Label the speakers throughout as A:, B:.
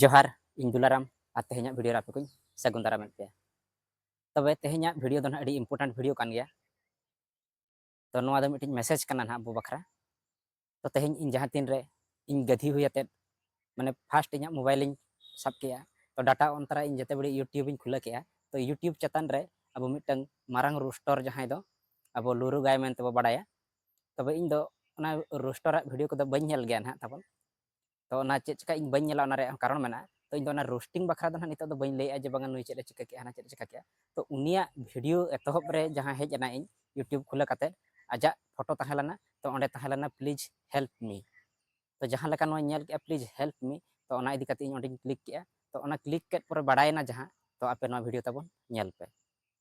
A: ᱡᱚᱦᱟᱨ ᱤᱧ ᱫᱩᱞᱟᱨᱟᱢ ᱟᱨ ᱛᱮᱦᱮᱧᱟᱜ ᱵᱷᱤᱰᱤᱭᱳ ᱨᱮ ᱟᱯᱮ ᱠᱚᱧ ᱥᱟᱹᱜᱩᱱ ᱫᱟᱨᱟᱢᱮᱫ ᱯᱮᱭᱟ ᱛᱚᱵᱮ ᱛᱮᱦᱮᱧᱟᱜ ᱵᱷᱤᱰᱤᱭᱳ ᱫᱚ ᱱᱟᱦᱟᱜ ᱟᱹᱰᱤ ᱤᱢᱯᱚᱨᱴᱮᱱᱴ ᱵᱷᱤᱰᱤᱭᱳ ᱠᱟᱱ ᱜᱮᱭᱟ ᱛᱚ ᱱᱚᱣᱟ ᱫᱚ ᱢᱤᱫᱴᱤᱡ ᱢᱮᱥᱮᱡᱽ ᱠᱟᱱᱟ ᱱᱟᱦᱟᱜ ᱟᱵᱚ ᱵᱟᱠᱷᱨᱟ ᱛᱚ ᱛᱮᱦᱮᱧ ᱤᱧ ᱡᱟᱦᱟᱸ ᱛᱤᱱ ᱨᱮ ᱤᱧ ᱜᱟᱹᱫᱷᱤ ᱦᱩᱭ ᱟᱛᱮᱫ ᱢᱟᱱᱮ ᱯᱷᱟᱥᱴ ᱤᱧᱟᱹᱜ ᱢᱳᱵᱟᱭᱤᱞᱤᱧ ᱥᱟᱵ ᱠᱮᱜᱼᱟ ᱛᱚ ᱰᱟᱴᱟ ᱚᱱ ᱛᱟᱨᱟ ᱤᱧ ᱡᱮᱛᱮ ᱵᱮᱲᱮ ᱤᱭᱩᱴᱤᱭᱩᱵᱤᱧ ᱠᱷᱩᱞᱟᱹ ᱠᱮᱜᱼᱟ ᱛᱚ ᱤᱭᱩᱴᱤᱭᱩᱵ ᱪᱮᱛᱟᱱ ᱨᱮ ᱟᱵᱚ ᱢᱤᱫᱴᱟᱝ ᱢᱟᱨᱟᱝ ᱨᱩᱥᱴᱚᱨ ᱡᱟᱦᱟᱸᱭ ᱫᱚ ᱟᱵᱚ ᱞᱩᱨᱩ ᱜᱟᱭ ᱢᱮᱱᱛᱮ ᱵᱚ ᱵᱟᱰᱟᱭᱟ ᱛᱚᱵᱮ ᱤᱧ ᱫᱚ ᱚᱱᱟ ᱨᱩᱥᱴᱚᱨᱟᱜ ᱵᱷᱤᱰᱤᱭᱳ ᱠᱚᱫᱚ ᱵᱟᱹᱧ ᱧᱮᱞ ᱜᱮᱭᱟ ᱱᱟᱦᱟᱜ ᱛᱟᱵᱚᱱ ᱛᱚ ᱚᱱᱟ ᱪᱮᱫ ᱪᱮᱠᱟ ᱤᱧ ᱵᱟᱹᱧ ᱧᱮᱞᱟ ᱚᱱᱟ ᱨᱮᱭᱟᱜ ᱠᱟᱨᱚᱱ ᱢᱮᱱᱟᱜᱼᱟ ᱛᱚ ᱤᱧ ᱫᱚ ᱚᱱᱟ ᱨᱳᱥᱴᱤᱝ ᱵᱟᱠᱷᱨᱟ ᱫᱚ ᱦᱟᱸᱜ ᱱᱤᱛᱚᱜ ᱫᱚ ᱵᱟᱹᱧ ᱞᱟᱹᱭᱮᱜᱼᱟ ᱡᱮ ᱵᱟᱝᱟ ᱱᱩᱭ ᱪᱮᱫ ᱮ ᱪᱤᱠᱟᱹ ᱠᱮᱜᱼᱟ ᱦᱟᱱᱟ ᱪᱮᱫ ᱮ ᱪᱤᱠᱟᱹ ᱠᱮᱜᱼᱟ ᱛᱚ ᱩᱱᱤᱭᱟᱜ ᱵᱷᱤᱰᱤᱭᱳ ᱮᱛᱚᱦᱚᱵ ᱨᱮ ᱡᱟᱦᱟᱸ ᱦᱮᱡ ᱮᱱᱟ ᱤᱧ ᱤᱭᱩᱴᱤᱭᱩᱵᱽ ᱠᱷᱩᱞᱟᱹ ᱠᱟᱛᱮ ᱟᱡᱟᱜ ᱯᱷᱳᱴᱳ ᱛᱟᱦᱮᱸ ᱞᱮᱱᱟ ᱛᱚ ᱚᱸᱰᱮ ᱛᱟᱦᱮᱸ ᱞᱮᱱᱟ ᱯᱞᱤᱡᱽ ᱦᱮᱞᱯ ᱢᱤ ᱛᱚ ᱡᱟᱦᱟᱸ ᱞᱮᱠᱟ ᱱᱚᱣᱟᱧ ᱧᱮᱞ ᱠᱮᱜᱼᱟ ᱯᱞᱤᱡᱽ ᱦᱮᱞᱯ ᱢᱤ ᱛᱚ ᱚᱱᱟ ᱤᱫᱤ ᱠᱟᱛᱮ ᱤᱧ ᱚᱸᱰᱮᱧ ᱠᱞᱤᱠ ᱠᱮᱜᱼᱟ ᱛᱚ ᱚᱱᱟ ᱠᱞᱤᱠ ᱠᱮᱫ ᱯᱚᱨᱮ ᱵᱟᱲᱟᱭᱮᱱᱟ ᱡᱟᱦᱟᱸ ᱛᱚ ᱟᱯᱮ ᱱᱚᱣᱟ ᱵᱷᱤᱰᱤᱭᱳ ᱛᱟᱵᱚᱱ ᱧᱮᱞ ᱯᱮ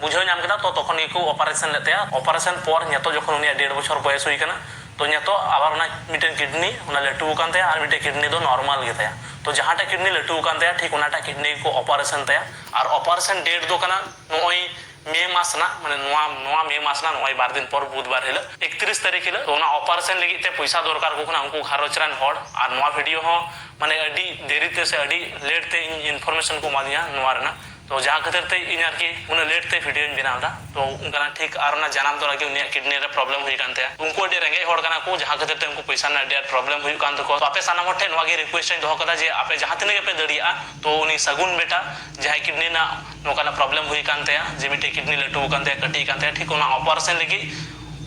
A: ᱵᱩᱡᱷᱟᱹᱣ ᱧᱟᱢ ᱠᱮᱫᱟ ᱛᱚ ᱛᱚᱠᱷᱚᱱ ᱜᱮᱠᱚ ᱚᱯᱟᱨᱮᱥᱚᱱ ᱞᱮᱫ ᱛᱟᱭᱟ᱾ ᱚᱯᱟᱨᱮᱥᱚᱱ ᱯᱚᱨ ᱧᱮᱛᱚᱜ ᱡᱚᱠᱷᱚᱱ ᱩᱱᱤᱭᱟᱜ ᱰᱮᱲ ᱵᱚᱪᱷᱚᱨ ᱵᱚᱭᱮᱥ ᱦᱩᱭ ᱟᱠᱟᱱᱟ ᱛᱚ ᱧᱮᱛᱚᱜ ᱟᱵᱟᱨ ᱚᱱᱟ ᱢᱤᱫᱴᱮᱱ ᱠᱤᱰᱱᱤ ᱚᱱᱟ ᱞᱟᱹᱴᱩ ᱟᱠᱟᱱ ᱛᱟᱭᱟ ᱟᱨ ᱢᱤᱫᱴᱮᱱ ᱠᱤᱰᱱᱤ ᱫᱚ ᱱᱚᱨᱢᱟᱞ ᱜᱮᱛᱟᱭᱟ᱾ ᱛᱚ ᱡᱟᱦᱟᱸᱴᱟᱜ ᱠᱤᱰᱱᱤ ᱞᱟᱹᱴᱩ ᱟᱠᱟᱱ ᱛᱟᱭᱟ ᱴᱷᱤᱠ ᱚᱱᱟᱴᱟᱜ ᱠᱤᱰᱱᱤ ᱜᱮᱠᱚ ᱚᱯᱟᱨᱮᱥᱚᱱ ᱛᱟᱭᱟ᱾ ᱟᱨ ᱚᱯᱟᱨᱮᱥᱚᱱ ᱰᱮᱴ ᱫᱚ ᱠᱟᱱᱟ ᱱᱚᱜᱼᱚᱭ ᱢᱮ ᱢᱟᱥ ᱨᱮᱱᱟᱜ ᱢᱟᱱᱮ ᱱᱚᱣᱟ ᱱᱚᱣᱟ ᱢᱮ ᱢᱟᱥ ᱨᱮᱱᱟᱜ ᱱᱚᱜᱼᱚᱭ ᱵᱟᱨ ᱫᱤᱱ ᱯᱚᱨ ᱵᱩᱫᱷ ᱵᱟᱨ ᱦᱤᱞᱚᱜ ᱮᱠᱛᱨᱤᱥ ᱛᱟᱹᱨᱤᱠᱷ ᱦᱤᱞᱚᱜ᱾ ᱛᱚ ᱚᱱᱟ ᱚᱯᱟᱨᱮᱥᱚᱱ ᱞᱟᱹᱜᱤᱫ ᱛᱮ ᱯᱚᱭᱥᱟ ᱫᱚᱨᱠᱟᱨ ᱟᱠᱚ ᱠᱟᱱᱟ ᱩᱱᱠᱩ ᱜᱷᱟᱨᱚᱸᱡᱽ ᱨᱮᱱ ᱦᱚᱲ ᱟᱨ ᱱᱚᱣᱟ ᱵᱷᱤᱰᱤᱭᱚ ᱦᱚᱸ ᱢᱟᱱᱮ ᱟᱹᱰᱤ ᱫᱮᱨᱤ ᱛᱮ ᱥᱮ ᱟᱹᱰᱤ ᱞᱮᱴ ᱛᱮ ᱤᱧ ᱤᱱᱯᱷᱚᱨᱢᱮᱥᱚᱱ ᱠᱚ ᱮᱢᱟ ᱫᱤᱧᱟ ᱱᱚᱣᱟ ᱨᱮᱱᱟᱜ᱾ ᱛᱚ ᱡᱟᱦᱟᱸ ᱠᱷᱟᱹᱛᱤᱨ ᱛᱮ ᱤᱧ ᱟᱨᱠᱤ ᱩᱱᱟᱹᱜ ᱞᱮᱴ ᱛᱮ ᱵᱷᱤᱰᱤᱭᱳᱧ ᱵᱮᱱᱟᱣ ᱮᱫᱟ ᱛᱚ ᱚᱱᱠᱟᱱᱟᱜ ᱴᱷᱤᱠ ᱟᱨ ᱚᱱᱟ ᱡᱟᱱᱟᱢ ᱛᱚᱨᱟ ᱜᱮ ᱩᱱᱤᱭᱟᱜ ᱠᱤᱰᱱᱤ ᱨᱮ ᱯᱨᱚᱵᱽᱞᱮᱢ ᱦᱩᱭ ᱟᱠᱟᱱ ᱛᱟᱭᱟ ᱩᱱᱠᱩ ᱟᱹᱰᱤ ᱨᱮᱸᱜᱮᱡ ᱦᱚᱲ ᱠᱟᱱᱟ ᱠᱚ ᱡᱟᱦᱟᱸ ᱠᱷᱟᱹᱛᱤᱨ ᱛᱮ ᱩᱱᱠᱩ ᱯᱚᱭᱥᱟ ᱨᱮᱱᱟᱜ ᱟᱹᱰᱤ ᱟᱸᱴ ᱯᱨᱚᱵᱽᱞᱮᱢ ᱦᱩᱭᱩᱜ ᱠᱟᱱ ᱛᱟᱠᱚᱣᱟ ᱛᱚ ᱟᱯᱮ ᱥᱟᱱᱟᱢ ᱦᱚᱲ ᱴᱷᱮᱱ ᱱᱚᱣᱟ ᱜᱮ ᱨᱤᱠᱩᱭᱮᱥᱴ ᱤᱧ ᱫᱚᱦᱚ ᱟᱠᱟᱫᱟ ᱡᱮ ᱟᱯᱮ ᱡᱟᱦᱟᱸ ᱛᱤᱱᱟᱹᱜ ᱜᱮᱯᱮ ᱫᱟᱲᱮᱭᱟᱜᱼᱟ ᱛᱚ ᱩᱱᱤ ᱥᱟᱹᱜᱩᱱ ᱵᱮᱴᱟ ᱡᱟᱦᱟᱸᱭ ᱠᱤᱰᱱᱤ ᱨᱮᱱᱟᱜ ᱱᱚᱝᱠᱟᱱᱟᱜ ᱯᱨᱚᱵᱽᱞᱮᱢ ᱦᱩᱭ ᱟᱠᱟᱱ ᱛᱟᱭᱟ ᱡᱮ ᱢᱤᱫᱴᱮᱱ ᱠᱤᱰᱱᱤ ᱞᱟᱹᱴᱩ ᱟᱠᱟᱱ ᱛᱟᱭᱟ ᱠᱟᱹᱴᱤᱡ ᱟᱠᱟᱱ ᱛᱟᱭᱟ ᱴᱷᱤᱠ ᱚᱱᱟ ᱚᱯᱟᱨᱮᱥᱚᱱ ᱞᱟᱹᱜᱤᱫ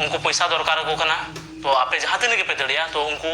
A: ᱩᱱᱠᱩ ᱯᱚᱭᱥᱟ ᱫᱚᱨᱠᱟᱨ ᱟᱠᱚ ᱠᱟᱱᱟ ᱛᱚ ᱟᱯᱮ ᱡᱟᱦᱟᱸ ᱛᱤᱱᱟᱹᱜ ᱜᱮᱯᱮ ᱫᱟᱲᱮᱭᱟᱜᱼᱟ ᱛᱚ ᱩᱱᱠᱩ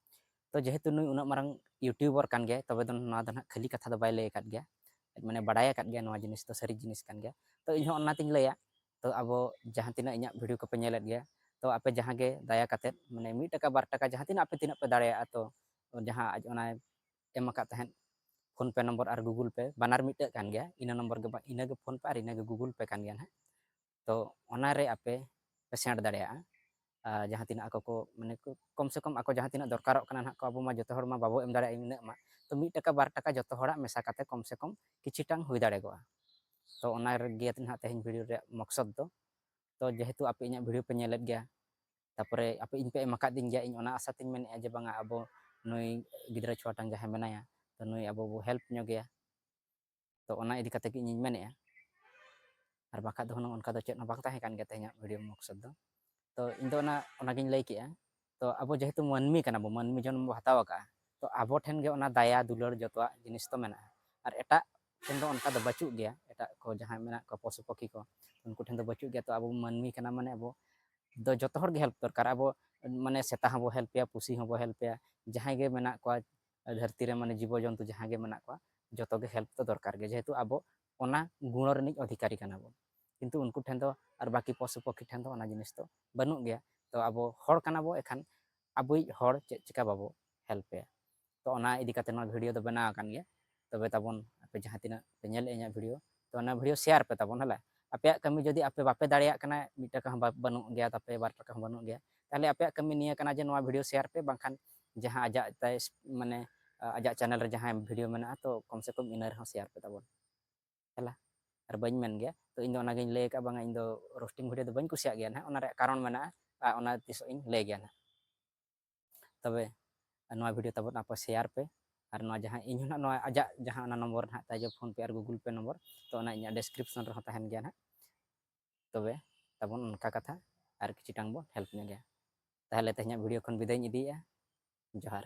A: ᱛᱚ ᱡᱮᱦᱮᱛᱩ ᱱᱩᱭ ᱩᱱᱟᱹᱜ ᱢᱟᱨᱟᱝ ᱤᱭᱩᱴᱤᱭᱩᱵᱟᱨ ᱠᱟᱱ ᱜᱮᱭᱟᱭ ᱛᱚᱵᱮ ᱫᱚ ᱱᱚᱣᱟ ᱫᱚ ᱱᱟᱦᱟᱜ ᱠᱷᱟᱹᱞᱤ ᱠᱟᱛᱷᱟ ᱫᱚ ᱵᱟᱭ ᱞᱟᱹᱭ ᱟᱠᱟᱫ ᱜᱮᱭᱟ ᱢᱟᱱᱮ ᱵᱟᱰᱟᱭ ᱟᱠᱟᱫ ᱜᱮᱭᱟ ᱱᱚᱣᱟ ᱡᱤᱱᱤᱥ ᱫᱚ ᱥᱟᱹᱨᱤ ᱡᱤᱱᱤᱥ ᱠᱟᱱ ᱜᱮᱭᱟ ᱛᱚ ᱤᱧᱦᱚᱸ ᱚᱱᱟᱛᱤᱧ ᱞᱟᱹᱭᱟ ᱛᱚ ᱟᱵᱚ ᱡᱟᱦᱟᱸ ᱛᱤᱱᱟᱹᱜ ᱤᱧᱟᱹᱜ ᱵᱷᱤᱰᱤᱭᱳ ᱠᱚᱯᱮ ᱧᱮᱞᱮᱫ ᱜᱮᱭᱟ ᱛᱚ ᱟᱯᱮ ᱡᱟᱦᱟᱸ ᱜᱮ ᱫᱟᱭᱟ ᱠᱟᱛᱮᱫ ᱢᱟᱱᱮ ᱢᱤᱫ ᱴᱟᱠᱟ ᱵᱟᱨ ᱴᱟᱠᱟ ᱡᱟᱦᱟᱸ ᱛᱤᱱᱟᱹᱜ ᱟᱯᱮ ᱛᱤᱱᱟᱹᱜ ᱯᱮ ᱫᱟᱲᱮᱭᱟᱜᱼᱟ ᱛᱚ ᱡᱟᱦᱟᱸ ᱟᱡ ᱚᱱᱟ ᱮᱢ ᱟᱠᱟᱫ ᱛᱟᱦᱮᱸᱫ ᱯᱷᱳᱱ ᱯᱮ ᱱᱚᱢᱵᱚᱨ ᱟᱨ ᱜᱩᱜᱩᱞ ᱯᱮ ᱵᱟᱱᱟᱨ ᱢᱤᱫᱴᱟᱹᱜ ᱠᱟᱱ ᱜᱮᱭᱟ ᱤᱱᱟᱹ ᱱᱚᱢᱵᱚᱨ ᱜᱮ ᱤᱱᱟᱹᱜᱮ ᱯᱷᱳᱱ ᱯᱮ ᱟᱨ ᱤᱱᱟᱹᱜᱮ ᱜᱩᱜᱩᱞ ᱯᱮ ᱠᱟᱱ ᱜᱮᱭᱟ ᱱᱟᱦᱟᱜ ᱛᱚ ᱚᱱᱟᱨᱮ ᱟᱯᱮ ᱯᱮ ᱥᱮᱬ ᱫᱟᱲᱮᱭᱟᱜᱼᱟ ᱡᱟᱦᱟᱸ ᱛᱤᱱᱟᱹᱜ ᱟᱠᱚ ᱠᱚ ᱢᱟᱱᱮ ᱠᱚᱢ ᱥᱮ ᱠᱚᱢ ᱟᱠᱚ ᱡᱟᱦᱟᱸ ᱛᱤᱱᱟᱹᱜ ᱫᱚᱨᱠᱟᱨᱚᱜ ᱠᱟᱱᱟ ᱱᱟᱦᱟᱜ ᱠᱚ ᱟᱵᱚ ᱢᱟ ᱡᱚᱛᱚ ᱦᱚᱲ ᱢᱟ ᱵᱟᱵᱚ ᱮᱢ ᱫᱟᱲᱮᱭᱟᱜᱼᱟ ᱤᱱᱟᱹᱜ ᱢᱟ ᱛᱚ ᱢᱤᱫ ᱴᱟᱠᱟ ᱵᱟᱨ ᱴᱟᱠᱟ ᱡᱚᱛᱚ ᱦᱚᱲᱟᱜ ᱢᱮᱥᱟ ᱠᱟᱛᱮ ᱠᱚᱢ ᱥᱮ ᱠᱚᱢ ᱠᱤᱪᱷᱤᱴᱟᱝ ᱦᱩᱭ ᱫᱟᱲᱮᱠᱚᱜᱼᱟ ᱛᱚ ᱚᱱᱟ ᱨᱮᱜᱮ ᱱᱟᱦᱟᱜ ᱛᱮᱦᱮᱧ ᱵᱷᱤᱰᱤᱭᱳ ᱨᱮᱭᱟᱜ ᱢᱚᱠᱥᱚᱫ ᱫᱚ ᱛᱚ ᱡᱮᱦᱮᱛᱩ ᱟᱯᱮ ᱤᱧᱟᱹᱜ ᱵᱷᱤᱰᱤᱭᱳ ᱯᱮ ᱧᱮᱞᱮᱫ ᱜᱮᱭᱟ ᱛᱟᱯᱚᱨᱮ ᱟᱯᱮ ᱤᱧ ᱯᱮ ᱮᱢ ᱟᱠᱟᱫᱤᱧ ᱜᱮᱭᱟ ᱤᱧ ᱚᱱᱟ ᱟᱥᱟ ᱛᱤᱧ ᱢᱮᱱᱮᱫᱼᱟ ᱡᱮ ᱵᱟᱝᱟ ᱟᱵᱚ ᱱᱩᱭ ᱜᱤᱫᱽᱨᱟᱹ ᱪᱷᱩᱣᱟᱴᱟᱝ ᱡᱟᱦᱟᱸᱭ ᱢᱮᱱᱟᱭᱟ ᱛᱚ ᱱᱩᱭ ᱟᱵᱚ ᱵᱚ ᱦᱮᱞᱯ ᱧᱚᱜᱮᱭᱟ ᱛᱚ ᱚᱱᱟ ᱤᱫᱤ ᱠᱟᱛᱮ ᱜᱮ ᱤᱧᱤᱧ ᱢᱮᱱᱮᱜᱼᱟ ᱟᱨ ᱵᱟᱠᱷᱟᱡ ᱫᱚ ᱦᱩᱱᱟᱹᱝ ᱚᱱᱠᱟ ᱫᱚ ᱪᱮᱫ ᱦᱚᱸ ᱵᱟᱝ ᱛᱟᱦᱮᱸ ᱠᱟᱱ ᱜᱮᱭᱟ ᱛᱮᱦᱮᱧᱟᱜ ᱵᱷᱤᱰᱤᱭᱳ ᱢᱚᱠᱥᱚᱫ ᱫᱚ ᱛᱚ ᱤᱧ ᱫᱚ ᱚᱱᱟ ᱚᱱᱟᱜᱤᱧ ᱞᱟᱹᱭ ᱠᱮᱜᱼᱟ ᱛᱚ ᱟᱵᱚ ᱡᱮᱦᱮᱛᱩ ᱢᱟᱹᱱᱢᱤ ᱠᱟᱱᱟ ᱵᱚ ᱢᱟᱹᱱᱢᱤ ᱡᱚᱱᱢ ᱵᱚ ᱦᱟᱛᱟᱣ ᱟᱠᱟᱜᱼᱟ ᱛᱚ ᱟᱵᱚ ᱴᱷᱮᱱ ᱜᱮ ᱚᱱᱟ ᱫᱟᱭᱟ ᱫᱩᱞᱟᱹᱲ ᱡᱚᱛᱚᱣᱟᱜ ᱡᱤᱱᱤᱥ ᱫᱚ ᱢᱮᱱᱟᱜᱼᱟ ᱟᱨ ᱮᱴᱟᱜ ᱴᱷᱮᱱ ᱫᱚ ᱚᱱᱠᱟ ᱫᱚ ᱵᱟᱹᱪᱩᱜ ᱜᱮᱭᱟ ᱮᱴᱟᱜ ᱠᱚ ᱡᱟᱦᱟᱸᱭ ᱢᱮᱱᱟᱜ ᱠᱚᱣᱟ ᱯᱚᱥᱩ ᱯᱟᱠᱷᱤ ᱠᱚ ᱩᱱᱠᱩ ᱴᱷᱮᱱ ᱫᱚ ᱵᱟᱹᱪᱩᱜ ᱜᱮᱭᱟ ᱛᱚ ᱟᱵᱚ ᱢᱟᱹᱱᱢᱤ ᱠᱟᱱᱟ ᱢᱟᱱᱮ ᱟᱵᱚ ᱫᱚ ᱡᱚᱛᱚ ᱦᱚᱲ ᱜᱮ ᱦᱮᱞᱯ ᱫᱚᱨᱠᱟᱨ ᱟᱵᱚ ᱢᱟᱱᱮ ᱥᱮᱛᱟ ᱦᱚᱸᱵᱚ ᱦᱮᱞᱯᱮᱭᱟ ᱯᱩᱥᱤ ᱦᱚᱸᱵᱚ ᱦᱮᱞᱯᱮᱭᱟ ᱡᱟᱦᱟᱸᱭ ᱜᱮ ᱢᱮᱱᱟᱜ ᱠᱚᱣᱟ ᱫᱷᱟᱹᱨᱛᱤ ᱨᱮ ᱢᱟᱱᱮ ᱡᱤᱵᱚ ᱡᱚᱱᱛᱩ ᱡᱟᱦᱟᱸ ᱜᱮ ᱢᱮᱱᱟᱜ ᱠᱚᱣᱟ ᱡᱚᱛᱚ ᱜᱮ ᱦᱮᱞᱯ ᱫᱚ ᱫᱚᱨᱠᱟᱨ ᱜᱮ ᱡᱮᱦᱮᱛᱩ ᱟᱵᱚ ᱚᱱᱟ ᱜᱩᱬᱚ ᱨᱤᱱᱤᱡ ᱚᱫᱷᱤᱠᱟᱨᱤ ᱠᱟᱱᱟ ᱵᱚᱱ ᱠᱤᱱᱛᱩ ᱩᱱᱠᱩ ᱴᱷᱮᱱ ᱫᱚ ᱟᱨ ᱵᱟᱹᱠᱤ ᱯᱚᱥᱩ ᱯᱚᱠᱷᱤ ᱴᱷᱮᱱ ᱫᱚ ᱚᱱᱟ ᱡᱤᱱᱤᱥ ᱫᱚ ᱵᱟᱹᱱᱩᱜ ᱜᱮᱭᱟ ᱛᱚ ᱟᱵᱚ ᱦᱚᱲ ᱠᱟᱱᱟ ᱵᱚ ᱮᱠᱷᱟᱱ ᱟᱵᱚᱭᱤᱡ ᱦᱚᱲ ᱪᱮᱫ ᱪᱤᱠᱟ ᱵᱟᱵᱚ ᱦᱮᱞᱯᱮᱭᱟ ᱛᱚ ᱚᱱᱟ ᱤᱫᱤ ᱠᱟᱛᱮ ᱱᱚᱣᱟ ᱵᱷᱤᱰᱤᱭᱳ ᱫᱚ ᱵᱮᱱᱟᱣ ᱟᱠᱟᱱ ᱜᱮᱭᱟ ᱛᱚᱵᱮ ᱛᱟᱵᱚᱱ ᱟᱯᱮ ᱡᱟᱦᱟᱸ ᱛᱤᱱᱟᱹᱜ ᱯᱮ ᱧᱮᱞᱮᱫᱼᱟ ᱤᱧᱟᱹᱜ ᱵᱷᱤᱰᱤᱭᱳ ᱛᱚ ᱚᱱᱟ ᱵᱷᱤᱰᱤᱭᱳ ᱥᱮᱭᱟᱨ ᱯᱮ ᱛᱟᱵᱚᱱ ᱦᱮᱞᱟ ᱟᱯᱮᱭᱟᱜ ᱠᱟᱹᱢᱤ ᱡᱩᱫᱤ ᱟᱯᱮ ᱵᱟᱯᱮ ᱫᱟᱲᱮᱭᱟᱜ ᱠᱟᱱᱟ ᱢᱤᱫ ᱴᱟᱠᱟ ᱦᱚᱸ ᱵᱟᱹᱱᱩᱜ ᱜᱮᱭᱟ ᱛᱟᱯᱮ ᱵᱟᱨ ᱴᱟᱠᱟ ᱦᱚᱸ ᱵᱟᱹᱱᱩᱜ ᱜᱮᱭᱟ ᱛᱟᱦᱞᱮ ᱟᱯᱮᱭᱟᱜ ᱠᱟᱹᱢᱤ ᱱᱤᱭᱟᱹ ᱠᱟᱱᱟ ᱡᱮ ᱱᱚᱣᱟ ᱵᱷᱤᱰᱤᱭᱳ ᱥᱮᱭᱟᱨ ᱯᱮ ᱵᱟᱝᱠᱷᱟᱱ ᱡᱟᱦᱟᱸ ᱟᱡᱟᱜ ᱛᱟᱭ ᱢᱟᱱᱮ ᱟᱡᱟᱜ ᱪᱮᱱᱮᱞ ᱨᱮ ᱡᱟᱦᱟᱸ ᱵᱷᱤᱰᱤᱭᱳ ᱢᱮᱱᱟᱜᱼᱟ ᱛᱚ ᱠᱚᱢ ᱥᱮ ᱠᱚᱢ ᱤᱱᱟᱹ ᱨᱮᱦᱚᱸ ᱥᱮᱭᱟᱨ ᱯᱮ ᱛᱟᱵᱚᱱ ᱦᱮᱞᱟ ᱟᱨ ᱵᱟᱹᱧ ᱢᱮᱱ ᱜᱮᱭᱟ ᱛᱚ ᱤᱧ ᱫᱚ ᱚᱱᱟᱜᱤᱧ ᱞᱟᱹᱭ ᱟᱠᱟᱫ ᱵᱟᱝᱟ ᱤᱧ ᱫᱚ ᱨᱳᱥᱴᱤᱝ ᱵᱷᱤᱰᱤᱭᱳ ᱫᱚ ᱵᱟᱹᱧ ᱠᱩᱥᱤᱭᱟᱜ ᱜᱮᱭᱟ ᱱᱟᱦᱟᱜ ᱚᱱᱟ ᱨᱮᱭᱟᱜ ᱠᱟᱨᱚᱱ ᱢᱮᱱᱟᱜᱼᱟ ᱟᱨ ᱚᱱᱟ ᱛᱤᱥᱚᱜ ᱤᱧ ᱞᱟᱹᱭ ᱜᱮᱭᱟ ᱱᱟᱦᱟᱜ ᱛᱚᱵᱮ ᱱᱚᱣᱟ ᱵᱷᱤᱰᱤᱭᱳ ᱛᱟᱵᱚᱱ ᱟᱯᱮ ᱥᱮᱭᱟᱨ ᱯᱮ ᱟᱨ ᱱᱚᱣᱟ ᱡᱟᱦᱟᱸ ᱤᱧ ᱦᱚᱸ ᱱᱚᱣᱟ ᱟᱡᱟᱜ ᱡᱟᱦᱟᱸ ᱚᱱᱟ ᱱᱚᱢᱵᱚᱨ ᱱᱟᱦᱟᱜ ᱛᱟᱭ ᱯᱷᱳᱱ ᱯᱮ ᱟᱨ ᱜᱩᱜᱩᱞ ᱯᱮ ᱱᱚᱢᱵᱚᱨ ᱛᱚ ᱚᱱᱟ ᱤᱧᱟᱹᱜ ᱰᱮᱥᱠᱨᱤᱯᱥᱚᱱ ᱨᱮᱦᱚᱸ ᱛᱟᱦᱮᱱ ᱜᱮᱭᱟ ᱱᱟᱦᱟᱜ ᱛᱚᱵᱮ ᱛᱟᱵᱚᱱ ᱚᱱᱠᱟ ᱠᱟᱛᱷᱟ ᱟᱨ ᱠᱤᱪᱷᱩᱴᱟᱝ ᱵᱚᱱ ᱦᱮᱞᱯ ᱧᱚᱜ ᱜᱮᱭᱟ ᱛᱟᱦᱚᱞᱮ ᱛᱮᱦᱮᱧᱟᱜ ᱵᱷᱤᱰᱤᱭᱳ ᱠᱷᱚᱱ ᱵᱤᱫᱟᱹᱭᱤᱧ ᱤᱫᱤᱭᱮᱜᱼᱟ ᱡᱚᱦᱟᱨ